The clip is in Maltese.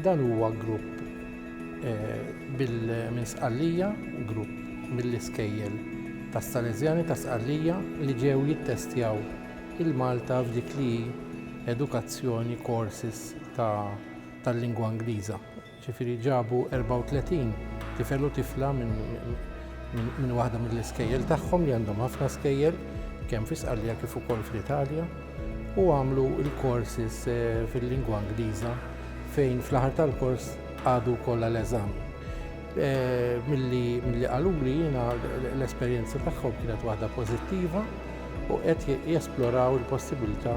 Dan huwa grupp minn Sqallija, grupp mill-iskejjel tas-Salesjani ta' Sqallija li ġew jittestjaw il-Malta f'dik li hi edukazzjoni courses tal-lingwa Ingliża. Ġifieri ġabu 34 tifel u tifla minn waħda mill-iskejjel tagħhom li għandhom ħafna skejjel kemm fi Sqallija kif ukoll fl-Italja u għamlu l-courses eh, fil-lingwa Ingliża fejn fl-aħħar tal-kors għadu wkoll l-eżam. Eh, milli qaluli jiena l-esperjenza tagħhom kienet waħda pożittiva u qed jesploraw il-possibilità